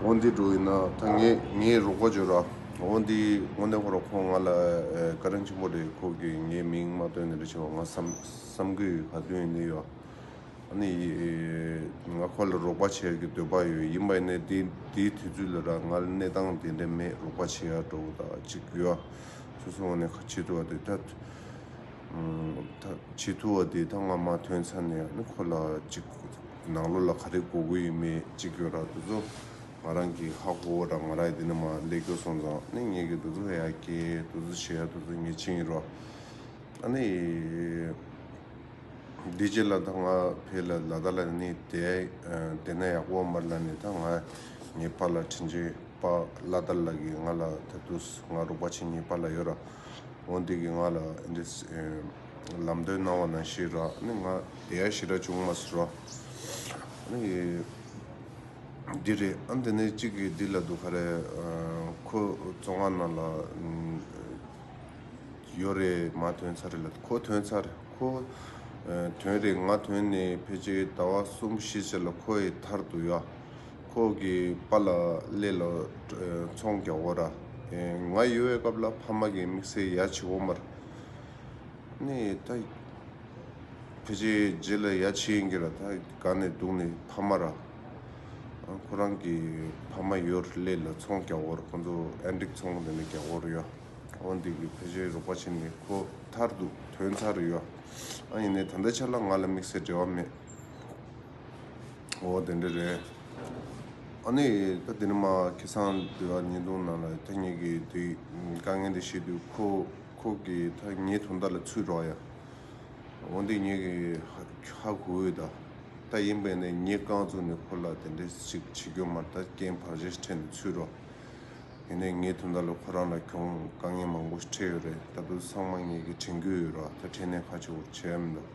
འོ་འདི་འགྲོ་ཡིན་ན་ད་ངས་ངའི་རོགས་པ་བྱོས་ར། འོ་འདི་དངོས་གནས་ཁོ་ར་ཁོང་ང་ལ་དགའ་རན་ཆེན་པོ་རེད་ཁོ་གིས་ངའི་མིང་མ་བཏོན་ནི་རེད་བྱས་པ་ང་བསམ་གི་ཡོད་ག་དུས་ནས་ཡོད། ཨ་ནི་ང་ཁོ་ལ་རོགས་པ་བྱས་ཀྱི་འདོད་པ་ཡོད་ཡིན་པ་ཡིན་ནའི་འདི་འདི་དུས་ཚོད་ལ་ར་ང་ལ་གནས་སྟངས་དེ་འདྲ་མེད་རོགས་པ་བྱེད་ཡ་འགྲོ་གི་ད་ཅིག་ཡོད་ཨ། སོ་སོ་ངོ་ནས་ཁ་ཆེ་ཐུ་བ་དེ་ད་ཆེ་ཐུ་བ་དེ་ད་ང་མ་ཐོན་ཚར་ནས་ཨ་ནི་ཁོ་ལ་ཅིག། ནང་ལོགས་ལ་ག་རེ་གོ་དགོས་ཡོད་མེད་གཅིག་གྱོན་རག་འདུག་ཚོ། ང་རང་གིས་ཧ་གོ་བོ་རང་ང་རག་འདི་ནས་མ་ལས་གྱོ་སོང་ཙང་ནས་ངས་གྱོ་འདུག་ཚོ་ཧ་ཡ་ཀྱེ་འདུག་ཚོ་ཆེ་ཡ་འདུག་ཚོ་ངས་ཆེ་ཡིན་རོ། ཨ་ནི་འདི་རྗེས་ལ་ད་ང་ཕེ་ལ་ལ་ད་ལ་ནི་དེ་དེ་ན་ཡག་པོ་མར་ལ་ནི་ད་ང་ངའི་ཕ་ལ་དྲིན་ཆེ་པ་ལ་ད་ལ་གི་ང་ལ་ད་འདུག་ང་རོག་པ་ཆེ་གཉིས་ཕ་ལ་ཡོད་ར་འོ་འདི་གི་ང་ལ་འདི། ལམ་སྟོན་གནང་བ་ན་ཤི་ར་ནི་ང་དེ་ཡར་ཤི་ར་བྱུང་མ་སུ་ར་ནི་འདི་རེད་ཨ་འདི་ནི་གཅིག་གི་འདི་ལ་འདུག་ག་རེ་ཁོ་བཙོ་ང་ན་ལ་ཡོད་རེད་མ་དོན་ཚར་རེད་ལ་ཁོ་དོན་ཚར་ཁོ་དོན་རེད་ང་དོན་ནི་ཕལ་ཆེ་ད་བ་གསུམ་བཞི་ཆ་ལ་ཁོ་ཡི་ཐར་དུ་ཡ་ཁོ་གི་པ་ལ་ལེ་ལ་ཚོང་རྒྱག་བོ་ར་ཨེ་ང་ཡོད་བའི་སྐབས་ལ་ཕ་མ་གི་དམིགས་བསལ་ཡ་ཆི་བོ་མར། ནས་ད་ཕྱི་རྗེས་ལ་ཡ་ཆེ་ཡིན་གྱི་ར་ད་ག་ནས་འདུག་ནས་ཕ་མ་ར་ཁོ་རང་གི་ཕ་མ་ཡོད་སླད་ལ་ཚོང་རྒྱག་བོར་ཁོ་ཚོ་ཨན་འགྲིག་ཚོང་འདི་ནས་རྒྱག་བོར་ཡ་འོ་འདི་གི་ཕྱི་རྗེས་རོགས་པ་བྱེད་ནས་ཁོ་ཐར་འདུག་དོན་ཚར་རེད་ཡ་ཨ་ཡིན་ནས་ད་ལྟ་ཆར་ལ་ང་ལ་དམིགས་བསལ་འབྲེལ་བ་མེད་འོ་དེ་འདྲ་རེད་ཨ་ནས་ད་དེ་ནས་མ་ཁེ་སང་དུ་ཡ་ཉིན་ཐུང་ནང་ལ་ཐེངས་གཉིས་ཀྱི་དེ་དཀའ་ངལ་འདི་ཤེས་དུས་ཁོ། ཁོག་གི་ཐ་སྙད་ཐུང་མདའ་ལ་ཚུད་རོགས་ཡ། འོན་ཏེ་ངེད་ཀྱི་ཧ་གོ་འོས་ད་ལྟ་ཡིན་པས་ནས་ངེད་རྐང་བཙུགས་ནས་ཁོ་ལ་དེ་འདྲས་ཅིག་བྱེད་རྒྱུ་མ་ད་རྐྱེན་བར་ཞེ་ཁྲེལ་ནས་ཚུད་རོགས། ཡིན་ནས་ངེད་ཐུང་མདའ་ལ་ཁོ་རང་ལ་གྱོང་དཀའ་ངལ་མང་པོ་ཞིག་འཕྲད་ཡོད་རེད་ད་དུ་ཚང་མ་ངེད་ཀྱི་དྲན་རྒྱུ་ཡོད་རོགས་ད་ཕྲན་ནས་ཧ་ཆེ་བོར་བྱས་ཡོད་མི་འདུག།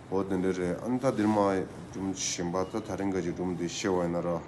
འོ་དེ་འདྲས་རེད་ཨ་ནི་ད་འདིར་མ་སྒྲུབ་བཞིན་པ་ད་ད་རིང་ག་ཅིག་སྒྲུབ་འདི་ཤེས་བ་ཡིན་ན་རོགས།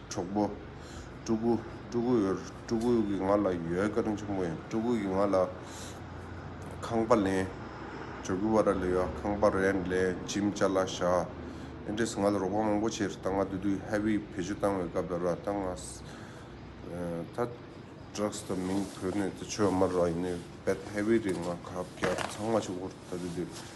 གྲོགས་པོ། སྤྲུལ་སྐུ། སྤྲུལ་སྐུ་ཡོད། སྤྲུལ་སྐུ་གིས་ང་ལ་ཡོད་བཀའ་དྲིན་ཆེན་པོ་ཡིན། སྤྲུལ་སྐུ་གིས་ང་ལ། ཁང་པ་ལེན། ཇོ་གུ་བ་ར་ལི་ཡ་ཁང་པ་རེ་ལེན་ཇིམ་བཅའ་ལ་བཞག། ཨེན་ཀྲེས་ང་ལ་རོགས་པ་མང་པོ་བྱས། རྟ་རྔ་བསྡུ་དུས་ཧེ་བི་བེད་སྤྱོད་བཏང་བའི་སྐབས་ལ་ར་རྟ་རྔ། ད Trucks དང་མིང་བོད་ནས་ད་ཆོས་དམར་ར་ཡིན་ནའི་བེད་ཧེ་བི་རེ་ལྔ་ཁ་བརྒྱ་ཚང་མ་ཆུ་འགོར་ད་བསྡུ་དུས།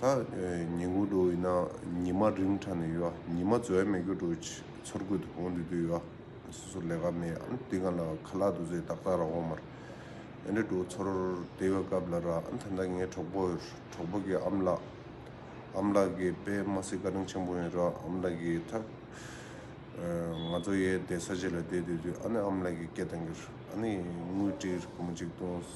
ད་ཉེ་དགུ་འགྲོ་ཡིན་ན་ཉི་མ་རིང་དྲགས་ནས་ཡོད་ཉི་མ་ཟོལ་མེད་སྐྱོར་འགྲོ་ཚུར་རྒོལ་དུ་འོང་འདོད་དུ་ཡོད་སོ་སོ་ལས་ཀ་མེད་ཨང་དེ་ག་ལ་ཁ་ལག་དུ་ཟས་ཏག་ཏག་ར་འོང་མར་ཨེ་འདྲ་འགྲོ་ཚུར་བདེ་བའི་སྐབས་ལ་ར་ཨང་ད་ད་ངའི་གྲོགས་པོ་གྲོགས་པོ་གི་ཨམ་ལགས་ཨམ་ལགས་ཀྱི་དཔེ་མ་སྲིད་བཀའ་དྲིན་ཆེན་པོ་ཡིན་ར་ཨམ་ལགས་ཀྱི་ཐབས་ང་ཚོ་ཡས་བདེ་ས་གཅིག་ལ་བསྡད་འདོད་དུས་ཨ་ནི་ཨམ་ལགས་ཀྱི་སྐད་དང་འགྱུར་ཨ་ནི་དངུལ་བྲིས་རྐུ་མ་གཅིག་བཏུངས།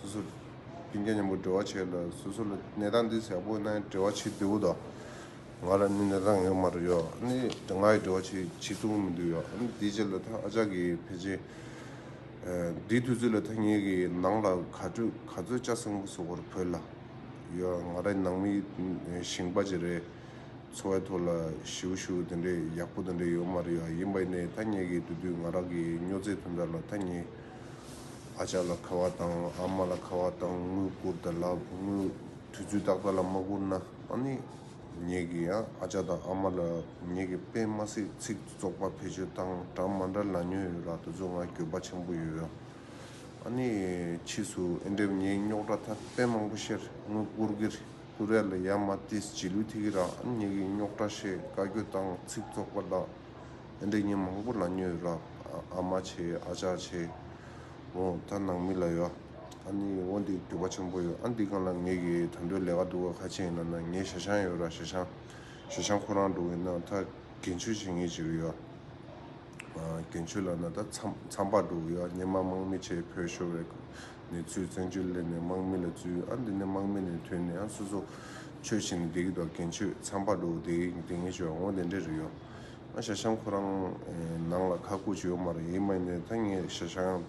སོ་སོར་སྡིངས་ཀྱང་སྙམ་པོ་འདྲི་བར་བྱེད་ལ་སོ་སོ་ལ་ནད་རྟགས་འདི་ཟེར་བོ་ནའི་འདྲི་བ་ཆེས་བདེ་བོ་དང། ང་ལ་ནི་ནད་རྟགས་ངེས་མ་རུ་ཡོད་ནི་ང་ཡི་འདྲི་བ་ཆེས་ཆེ་ཚུགས་མི་འདུག་ཡོད་ནི་དེའི་རྗེས་ལ་ད་ཨ་ཅག་གིས་ཕལ་ཆེར། འདིའི་དུས་ཚོད་ལ་ཐ་སྙད་ཀྱི་ནང་ལ་ག་དྲོད་ག་ཚོད་ལྕགས་སྲིན་པོ་སོགས་པར་བོས་ལ། ཡོད་ང་ར་ནང་མི་ཞིང་པ་ཅི་རེད། འཚོ་བའི་ཐོག་ལ་ཞིའུ་བཞུ་དེ་འདྲས་ཡག་པོ་དེ་འདྲས་ཡོད་མ་རུ་ཡོད་ཡིན་པ་ནི་ཐ་སྙད་ཀྱི་དུས་དུས་ང་ར་གི་སྨྱོ་རྫས་ཐོན་རྫ་ལ་ཐ་སྙད། ཨ་ཅག་ལ་ཁ་བ་དང་ཨ་མ་ལ་ཁ་བ་དང་དངུལ་བསྐུར་ད་ལགས་དངུལ་དུས་ཚོད་ཏག་ཏག་ལ་མ་བསྐུར་ན་ཨ་ནི་ངེད་ཀྱི་ཡང་ཨ་ཅག་དང་ཨ་མ་ལ་ངེད་ཀྱི་པད་མ་སྲིད་ཚིག་བཙོག་པ་བེད་སྤྱོད་སྟངས་གྲངས་མ་འདྲ་ལ་ཉོན་ཡོད་རག་དེ་ཚོ་ང་གྱོད་པ་ཆེན་པོ་ཡོད་ཡོད་ཨ་ནི་ཕྱིས་སུ་ཨེ་འདེབས་ངས་རྙོག་དྲ་ཐ་དད་མང་པོ་ཤེར་དངུལ་བསྐུར་གིར་བསྐུར་ཡ་ལ་ཡ་མ་ཏིས་བྱིས་ལུས་ཐི་གི་རག་ཨ་ནི་ངེད་ཀྱི་རྙོག་དྲ་ཤེས་དཀའ་གྱོད་སྟངས་ཚིག་བཙོག་པ་ལགས། འདི་ཉིན་མང་པོ་ལ་མྱོས་རབ་ཨ་མ་ཆེ་ཨ་ཅག་ཆེ། འོ་ད་ནང་མི་ལ་ཡོད། ཨ་ནི་འོ་འདི་དུས་བབ་ཆེན་པོ་ཡོད་ཨ་འདི་གང་ལ་ངེད་ཀྱི་དུད་འགྲོའི་ལས་ཀ་འདུག་ག་ཁ་ཆེ་ཡིན་ན་ན་ངས་ཞྭ་ཤང་ཡོད་ར་ཞྭ་ཤང། ཞྭ་ཤང་ཁོ་རང་འགྲོ་གི་ན་ད་གན་མཆོད་བྱེད་ངེས་བྱེད་ཀྱི་ཡོད། གན་མཆོད་ལ་ན་ད་མཚམས་པར་འགྲོ་གི་ཡོད་ཉི་མ་དམག་མི་ཆེ་བོས་ཤོར་བས་ནས་ཚུལ་བཙན་མཆོད་སླེབས་ནས་དམག་མི་ལ་བཙུད་ཨ་འདི་ནས་དམག་མི་ནས་ཐོན་ནས་ཨ་སོ་སོ། མཆོད་བྱེད་ནས་བསྡད་ཀྱི་འདུག་ག་གན་མཆོད་མཚམས་པར་འགྲོ་གི་འདི་ངེས་བྱེད་འོ་དེ་འདྲ་རེད་ཡོད། ང་ཞྭ་ཤང་ཁོ་རང་ནང་ལ་ཁ་སྐུད་བྱེད་ཡོང་མ་རེད་མ་ཡིན་ད་ངས་ཞྭ་ཤང་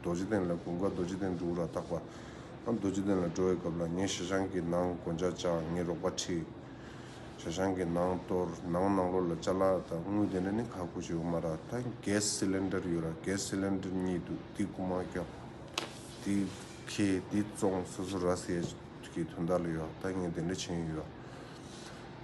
རྡོ་རྗེ་གདན་ལ་གུང་དཀར་རྡོ་རྗེ་གདན་འགྲོ་འུ་ར་ཐག་པ་ཨ་རྡོ་རྗེ་གདན་ལ་འགྲོ་བའི་སྐབས་ལ་ངས་ཞྭ་ཤང་གི་ནང་དགོན་བྱ་བྱ་ངས་རོགས་པ་ཁྲིད། ཞྭ་ཤང་གི་ནང་གཏོར་ནང་ནང་ལོགས་ལ་བཅའ་ལ་ད་དངུལ་དེ་འདྲ་ནི་ཁ་སྐུད་བྱེད་ཡོང་མ་ར་ད Gas Cylinder ཡོད་ར Gas Cylinder གཉིས་འདུག་འདི་རྐུ་མ་ཀྱང་འདི་ཁྱེད་འདི་བཙོང་སོ་སོ་ར་ཟེར་གི་དོན་དག་ལ་ཡོད་ད་ངས་དེ་འདྲ་བྱེད་ཡོང་ཡོད་ར།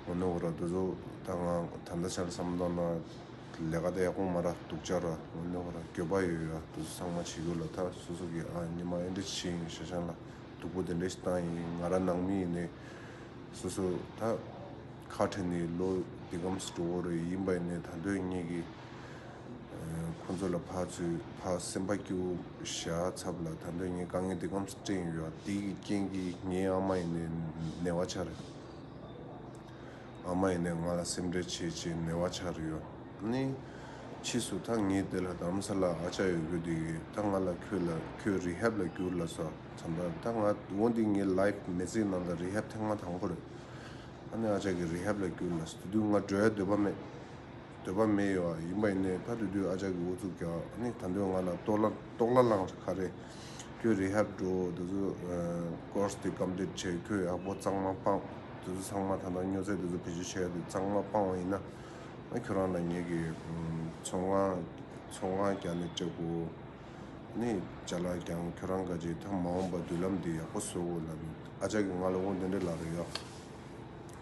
ཨོ་ནོ་ཨོ་ར་འདུག་ཟོ་ད་ང་ད་ལྟ་ཆར་བསམ་བློ་ན་ལས་ཀ་ད་ཡག་པོ་མ་ར་འདུག་ཅག་ར་ཨོ་ནོ་ཨོ་ར་འགྱོད་པ་ཡོད་ཡོད་ར་འདུག་གསང་མ་བྱེད་གུ་ལ་ད་སོ་སོ་གི་ཨ་ཉི་མ་ཨེ་འདྲ་བྱེད་ཡིན་ཤ་ཤང་ལ་སྡུག་པོ་དེ་འདྲ་ཞིག་བཏང་ཡིན་ང་ར་ནང་མི་ཡིན་ནའི་སོ་སོ་ད་ཁ་བྲལ་ནའི་ལོ་འདི་གམ་སི་ཀྲོ་བོ་ར་ཡིན་པ་ཡིན་ནའི་ད་འདོད་ངེས་ཀི། ཁོ་ཚོ་ལ་ཕར་ཚུར་ཕར་སེམས་པ་སྐྱོ་བཞག་ཚབ་ལ་ད་འདོད་ངས་དཀའ་ངལ་འདི་སྐམ་ས་སྤྲད་ཡོད་ཡ་དེ་ཡི་རྐྱེན་གྱིས་ངའི་ཨ་མ་ཡིན་ནའི་ནད་བ་ཆགས་རེད་ཨ་མ་ཡིན་ནའི་ང་ལ་སེམས་ཁྲལ་བྱེད་ཅེས་ནད་བ་ཆགས་རེད་ཡོད་ནའི་ཕྱིས་སུ་ད་ངས་དེ་ལ་དམ་ས་ལ་ཨ་ཅག་ཡོད་རྒུ་འདི་གི་ད་ང་ལ་ཁྱོད་ལ་ཁྱོད་རིཧབ་ལ་བསྐྱུར་ལ་སོ་ཚམ་པ་ད་ང་འོ་འདི་ངའི life མེ་ཚིག་ནང་ད་རིཧབ་ཐེངས་མ་དང་པོ་རེད་ཨ་ནི་ཨ་ཅག་གི་རིཧབ་ལ་བསྐྱུར་ལ་སོ་དེ་དུས་ང་བྲོས་ཡ་འདོད་པ་མེད། འདོད་པ་མེད་ཡོད་ཡིན་པ་ཡིན་ནའི་ད་དུས་དུས་ཨ་ཅག་གི་ཨུ་ཚུགས་ཀྱང་ནི་ད་འདོད་ང་ལ་ལྟོགས་ལ་ལངས་ཁ་རེད་ཁྱོད་རི་ཧབ་འགྲོ་འོ་དེ་ཚོ Course དེ་གམ་འདེབས་བྱས་ཁྱོད་ཡག་པོ་གཙང་མ་སྤངས་དེ་ཚོ་ཚང་མ་ད་ནང་སྨྱོ་རྫས་དེ་ཚོ་བེད་སྤྱོད་བྱས་ཏེ་གཙང་མ་སྤངས་བ་ཡིན་ན་ཁྱོད་རང་ལ་ངེད་ཀྱི་ཚོ་སྔགས་རྒྱ་ནས་སྤྲད་དགོས་ནི་བྱ་ལ་ཀྱང་ཁྱོད་རང་དགའ་ཅིག་ད་མ་འོངས་པ་མདུན་ལམ་དེ་ཡག་པོ་བཟོ་དགོས་ལ་ཨ་ཅག་གིས་ང་ལ་དབུགས་འདི་འདྲ་ལ་རོལ་ཡ།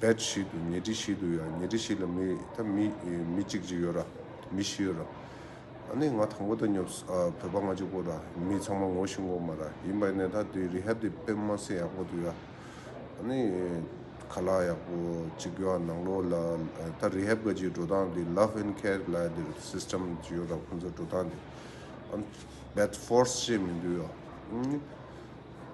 བེད་ཞིག་ཏུ་ཉལ་ཁྲི་ཞིག་ཏུ་ཡང་ཉལ་ཁྲི་ཞིག་ལ་མི་ད་མི་མི་གཅིག་གཅིག་ཡོད་ར། མི་བཞི་ཡོད་ར། ཨ་ནི་ང་དང་པོ་ད་ཉོབ་ས་བོད་པ་ང་གཅིག་པོ་ར་མི་ཚང་མ་ངོ་ཤི་འགོ་མ་ར་ཡིན་པ་ནས་ད་དེ་རི་ཧ་དེ་པེན་མ་སེ་ཡག་པོ་དུ་ཡ། ཨ་ནི་ཁ་ལག་ཡག་པོ་གཅིག་ཡོད་ཨ་ནང་ལོག་ལ་ད་རི་ཧ་བཀའ་སྤྱིའི་འགྲོ་སྟངས་དེ་ལབ་ཧན་ཁ་ལ་དེར་སིསྟེམ་གཅིག་ཡོད་ར་ཁོང་ཚོ་འགྲོ་སྟངས་དེ། བེད་ཧྥོར་སེ་ཞེས་མིང་དུ་ཡོད།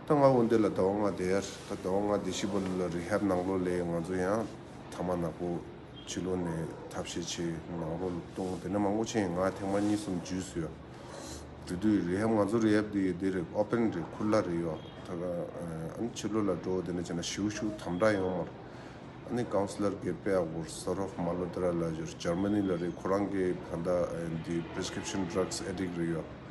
ད་ང་འོ་འདི་ལ་ཟླ་བ་ལྔ་འདས། ད་ཟླ་བ་ལྔ་འདས་ཤི་བ་ལོ་ལ་རི་ཧབ་ནང་ལོ་ལས་ང་ཚོ་ཡང་ཐ་མ་ནག་པོ་ཕྱི་ལོ་ནས་ཐབས་ཤེས་ཆེ་ནང་རོ་ལ་ལྟུང་དེ་ནས་མ་སྔོ་ཆེན་ཡིན་ང་ཐེངས་མ་གཉིས་གསུམ་འཇུས་སུ་ཡོད། དེ་དུས་རི་ཧབ་ང་ཚོ་རི་ཧབ་དེ་ཡོད་དེ་རེད་ཨོ་པན་རེད་ཁུར་ལྭ་རེད་ཡོད། ད་གང་ཕྱི་ལོ་ལ་འགྲོ་དེ་ནས་བྱས་ན་བྱིའུ་ཤུགས་དམ་དྲག་ཡོང་མར། ཨ་ནི་ཀའུ་སི་ལར་གི་པེ་ཨ་གོར་སོ་རོ་མ་ལོ་དེ་ར་ལ་ཞོར་ཇར་མ་ནི་ལ་རེད་ཁོ་རང་གི་ཕ་མཐའ་འདི Prescription Drugs Addict རེད་ཡོད།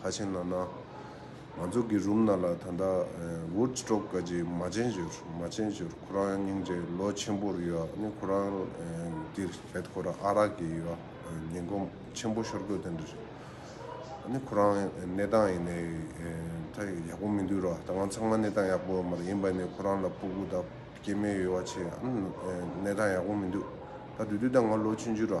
ཁ་ཆེན་ན་ན། མ་ཛོ་གི་རུམ་ན་ལ་ད་ད། བུར་ཅི་ཀྲོག་ཀ་ཅི་མ་ཅན་ཅོར་མ་ཅན་ཅོར་ཁོ་རང་སྙིང་རྗེ་ལོ་ཆེན་པོར་ཡོད་ཨ་ནི་ཁོ་རང་འདིར་བྱད་ཁོ་ར་ཨ་རག་གི་ཡོད་ཉེན་གོམ་ཆེན་པོ་ཤོར་དགོས་དོན་འདྲ་རེད་ཨ་ནི་ཁོ་རང་གནས་སྟངས་ཡིན་ནའི་ད་ཡག་པོ་མི་འདུག་ར་ད་ང་ཚང་མ་གནས་སྟངས་ཡག་པོ་ཡོད་མ་རེད་ཡིན་པ་ནས་ཁོ་རང་ལ་སྤུ་གུ་ད་སྐྱེ་མེད་ཡོད་བ་ཆེ་ཨ་ནི་གནས་སྟངས་ཡག་པོ་མི་འདུག་ད་དུས་དུས་ད་ང་ལོ་ཆུན་ཅུ་ར།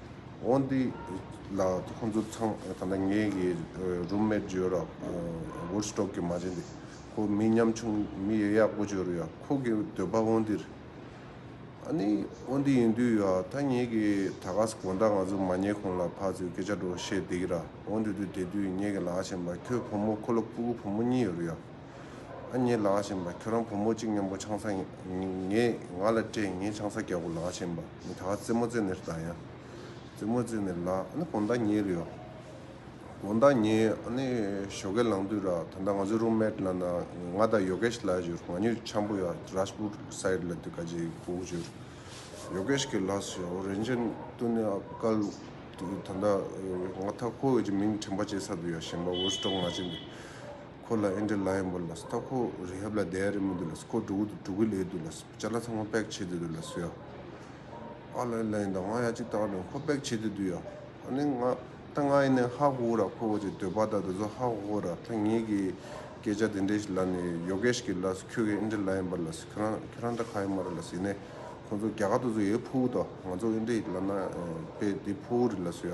འོན་ཏེ། ལ་ཁོ་ཚོ་ཚང་ད་ལྟ་ངའི་གི་རུམ་མེད་ཇོ་ར་བུར་སྟོབས་ཀྱི་མ་བྱེད་འདི་ཁོ་མི་ཉམ་ཆུང་མི་ཡ་ཡག་པོ་ཇོ་རུ་ཡ་ཁོ་གི་འདོད་པ་འོན་ཏེར་ཨ་ནི་འོན་ཏེ་ཡིན་དུས་ཡ་ད་ངའི་གི་ད་ག་ས་གོ་ད་ང་ཚོ་མ་ཉེ་གོང་ལ་ཕ་ཚོའི་སྐད་ཆ་འགྲོ་བཤད་འདི་གི་ར་འོན་ཏེ་དུས་དེ་དུས་ངའི་གི་ལ་ཞེན་པ་ཁྱོད་བུ་མོ་ཁོ་ལ་སྤུ་གུ་བུ་མོ་གཉིས་ཡོད་རུ་ཡ། ཨ་མྱེས་ལགས་བཞིན་པ་ཁྱོད་རང་བུ་མོ་གཅིག་མཉམ་པོ་ཆང་ས་ངས་ང་ལ་སྤྲད་ངས་ཆང་ས་རྒྱག་གོ་ལགས་བཞིན་པ་མི་ད་རྩེད་མོ་རྩེད་ནས་རྟ་ཡང་རྩེད་མོ་རྩེད་ནས་ལགས་ཨ་ནི་གོང་ད་ཉལ་ཡོད་གོང་ད་ཉལ་ཡོད་ཨ་ནི་ཞོ་ཀེ་ལང་དུས་ར་ད་ད་ང་ཚོའི་རུམ་མེད་ལ་ན་ང་ད་ཡོ་ཀེ་ཤ་ལགས་བཞུར་ང་ཉོས་ཆང་པོ་ཡག་ར་སྤུ་སའི་ལ་དུས་ཀ་ཇེ་གུག་བཞུར་ཡོ་ཀེ་ཤ་ཀེ་ལགས་སུ་ཡོ་རེན་ཅན་དུ་ནི་ཨ་ཀ་ལུག་དུས་ད་ད་ང་ད་ཁོ་བོས་ཀྱི་མིང་དྲན་པ་བྱེད་ས་དུ་ཡོ་བཞིན་པ་འུར་སྒྲོག་མ་བྱེད་འདི། ཁོ་ལ་ཨེ་འདྲི་ལ་ཡིན་པོ་ལགས་སྟག་ཕོ་རི་ཧབ་ལ་དེ་ཡ་རེད་མི་འདུག་ལགས་ཁོ་འགྲོ་གི་འགྲོ་གི་ལེ་འདུག་ལགས་བྱ་ལ་ཚང་མ་པེག་བྱེད་དེ་འདུག་ལགས་ཡ། ཨ་ལ་ཨེ་ལ་ཡིན་ད་ང་ཡ་གཅིག་ལྟ་གྲོན་ཁོ་པེག་བྱེད་དེ་འདུག་ཡ། ཨ་ནི་ང་ད་ང་ཡིན་ནའི་ཧ་གོ་ར་ཁོ་གོ་ཅིག་འདོད་པ་ད་ད་གཟོད་ཧ་གོ་གོ་ར་ད་ངེད་ཀྱི་སྐད་ཆ་དེ་འདྲས་ཞིག་ལ་ནི་ཡོ་གས་ཤིག་གིས་ལགས་ཁྱོད་ཀྱིས་ཨེ་འདྲི་ལ་ཡིན་པ་ལགས་ཁྱོད་རང་ཁྱོད་རང་ད་ག་ཡིན་མ་རེད་ལགས་ཡིན་ནའི་ཁོང་ཚོ་རྒྱ་གར་དུ་ཚོ་ཡའི་ཕུ་བོ་ད་ང་ཚོ་ཨེ་འདྲི་ལ་ན་པེ་དེ་ཕུ་བོ་རེད་ལགས་ཡ།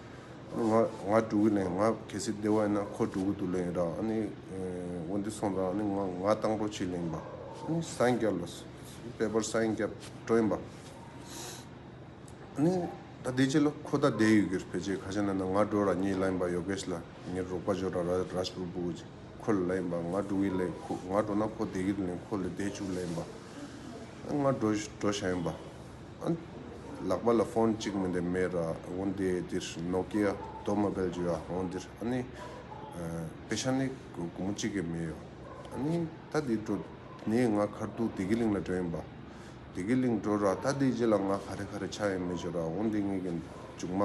ང་དྲུག་གི་ནས་ང་གལ་སྲིད་བདེ་བ་ཡིན་ན་ཁོ་དྲུག་གི་དུ་ལེན་ཡོད་རང་ཨ་ནི་འོ་འདི་སོང་ཙང་ཨ་ནི་ང་ང་དང་པོ་ཕྱིས་ལེན་པ་ཨ་ནི་སངས་རྒྱབ་ལ་དཔལ་འབར་སངས་རྒྱབ་སྤྲོ་ཡིན་པ་ཨ་ནི་ད་བདེ་སྐྱིད་ལ་ཁོ་ད་བདེ་ཡོད་གིར་བེད་སྤྱད་ཁ་ཤ་ན་ན་ང་དྲུག་ར་གཉིས་ལ་ཡིན་པ་ཡོ་གེས་ལ་ཉེར་རོགས་པ་འཇོག་ར་ར་རཱས་པུར་པུ་ཁོ་ལ་ལ་ཡིན་པ་ང་དྲུག་གི་ལས་ཁོ་ང་འགྲོ་ན་ཁོ་བདེ་སྐྱིད་དུ་ལེན་ཁོ་ལས་བདེ་སྐྱུག་ལ་ཡིན་པ་ཨ་ནི་ང་འགྲོ་འགྲོ་ཤ་ཡིན་པ། ལག་པ་ལ་ཕོན་གཅིག་མི་འདེབས་མེད་ར་འོང་དེ་འདིར་ནོ་ཀི་ཡ་དོ་མ་བེལ་རྒྱུ་ཡ་འོང་འདིར་ཨ་ནི་པེ་ཤ་ནི་གུང་མོ་གཅིག་གི་མི་ཡོ་ཨ་ནི་ད་འདི་འགྲོ་ནི་ང་ཁར་འདུག་དེ་གི་ལིང་ལ་འགྲོ་ཡིན་པ་དེ་གི་ལིང་འགྲོ་ར་ད་འདི་རྗེས་ལ་ང་ཁ་རེ་ཁ་རེ་ཆ་ཡིན་མི་འཇོ་ར་འོང་འདི་ངེད་ཀྱི་མཇུག་མ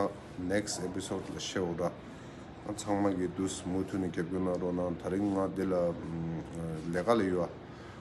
next episode ལ་ཤེས་འོ་ར་ཨ་ཚང་མ་གི་འདུག་མུ་འཐུད་ནས་རྒྱབ་སྐྱོར་གནང་རོགས་གནང་ད་རིང་ང་འདི་ལ་ལས་ཀ་ལ་ཡོ་ཨ།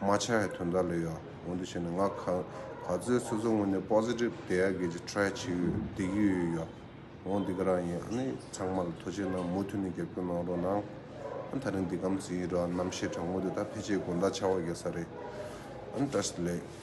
རྨ་བྱ་ཡི་དོན་དག་ལས་ཡོད། འོན་ཏུ་བྱས་ན་ང་ག་ཚོད་སོ་སོའི་ངོས་ནས Positive དེ་ཡག་གི་ཅིག Try བྱེད་ཡུལ་བདེ་སྐྱིད་ཡོད་ཡོད། འོང་འདི་ག་རང་ཡིན་ཨ་ནི་ཚང་མ་ལ་ཐུགས་ཆེ་གནང་མུ་མཐུད་ནས་རྒྱབ་སྐྱོར་གནང་རོགས་གནང། ཨ་ནི་ད་རིང་འདི་གམ་ཚེ་ཡི་རོ་ཨ་ནི་རྣམ་ཤེས་དྲང་མོ་དེ་དག་ཕལ་ཆེར་དགོན་བདག་ཆགས་བ་རྒྱག་ས་རེད། ཨ་ནི Trust ལེགས།